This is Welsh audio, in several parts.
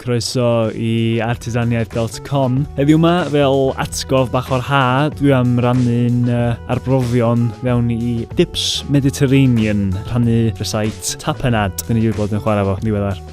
croeso i artisaniaeth.com. Heddiw yma, fel atgof bach o'r ha, dwi am rannu'n uh, arbrofion fewn i Dips Mediterranean, rhannu rhysait tapenad, dyn ni wedi bod yn chwarae fo ddiweddar.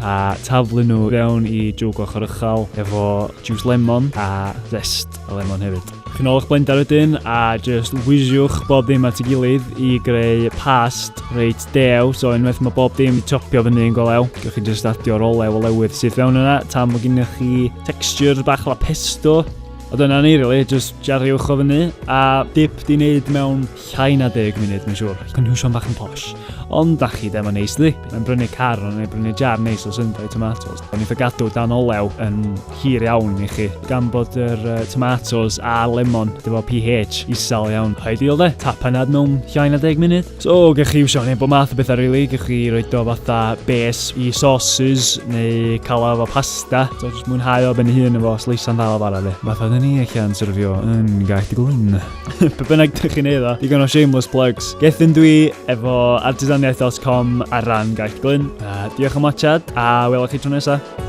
a taflu nhw fewn i jwg ochr uchel efo juice lemon a zest y lemon hefyd. Chi'n ôl eich blender wedyn a just wiziwch bob dim at ei gilydd i greu past reit dew. So unwaith mae bob dim topio fyny yn golew, gwych chi just adio'r olew o lewydd sydd fewn yna tan mae gennych chi texture bach la pesto. A dyna ni, really, just jariwch o fyny a dip di wneud mewn Llai na deg munud, mae'n siŵr. Cynhwysion bach yn posh. Ond da chi ddim yn neis ddi. Mae'n brynu car neu brynu jar neis o syndau tomatoes. Ond eitha gadw dan olew yn hir iawn i chi. Gan bod yr uh, tomatoes a lemon, dyfo pH isel iawn. Ideal de, tap anad mewn llai na deg munud. So, gych chi iwsio hynny bod math o bethau rili. Really. Gych chi roed o fatha base i sauces neu calaf o pasta. So, jyst mwynhau o ben ei hun efo sleisan ddal o fara fi. Math o ni allan syrfio yn gaeth y glyn. Pe bynnag dych chi'n eiddo, digon o shameless plugs. Gethin dwi efo artisaniaeth.com ar ran Gaeth Glyn. Uh, diolch am watchad, a welwch chi tro nesaf.